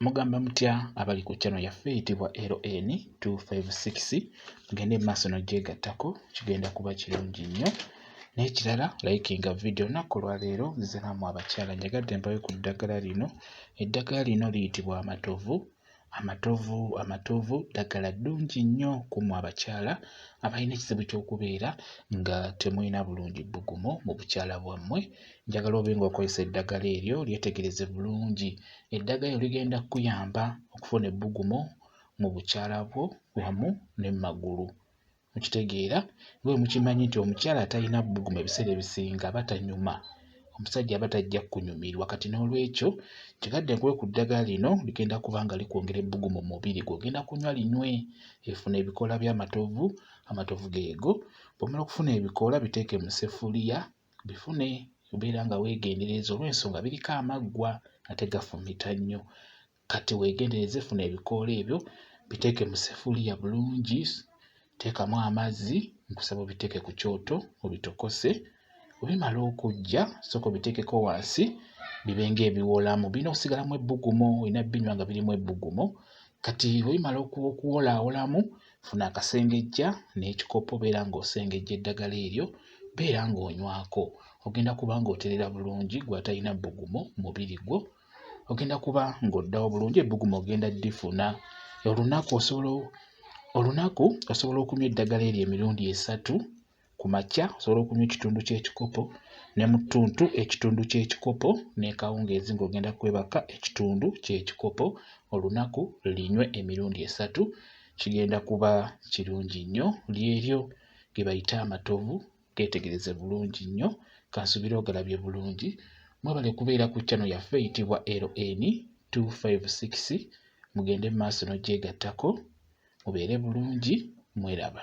Mugamba mutya abali ku channel yaffe eyitibwa LN 256 mugende mu maaso n'ogyegattako kigenda kuba kirungi nnyo n'ekirala likinga vidiyo olunaku olwaleero nzize naamwe abakyala njagadde mpayo ku ddagala lino eddagala lino liyitibwa amatovu amatovu amatovu ddagala ddungi nnyo ku mwe abakyala abalina ekizibu ky'okubeera nga temulina bulungi bbugumu mu bukyala bwammwe Njagala obe ng'okozesa eddagala eryo lyetegereze bulungi. Eddagala eryo ligenda kukuyamba okufuna ebbugumu mu bukyala bwo wamu ne mu magulu. Mukitegeera? Nga bwe mukimanyi nti omukyala atalina bbugumu ebiseera ebisinga aba tanyuma. Omusajja aba tajja kukunyumirwa. Kati n'olwekyo nkigadde nkuwe ku ddagala lino ligenda kuba nga likwongera ebbugumu mu mubiri gwo. Ogenda kunywa linywe efuna ebikoola by'amatovu, amatovu geego. Bw'omala okufuna ebikoola biteeke mu ssefuliya bifune obeera nga weegendereza olw'ensonga biriko amaggwa ate gafumita nnyo kati weegendereze funa ebikoola ebyo biteeke mu sefuliya bulungi teekamu amazzi nkusaba obiteeke ku kyoto obitokose obimala okujja sooka obiteekeko wansi bibe ng'ebiwolamu birina okusigalamu ebbugumo olina binywa nga birimu ebbugumo kati obimala okuwolaawolamu Funa akasengejja n'ekikopo beera ng'osengejja eddagala eryo beera ng'onywako ogenda kuba ng'oterera bulungi gwe atalina bbugumu mubiri gwo ogenda kuba ng'oddawo bulungi ebbugumu ogenda ddifuna olunaku osobola olunaku osobola okunywa eddagala eryo emirundi esatu Ku makya osobola okunywa ekitundu ky'ekikopo ne mu ttuntu ekitundu ky'ekikopo n'ekawungeezi ng'ogenda kwebaka ekitundu ky'ekikopo olunaku linywe emirundi esatu kigenda kuba kirungi nnyo lyeryo ge bayita amatovu geetegereze bulungi nnyo kansubire ogalabye bulungi mwebale kubeera ku channel yaffe eyitibwa LN 256 mugende mu maaso n'ogyegattako mubeere bulungi mweraba.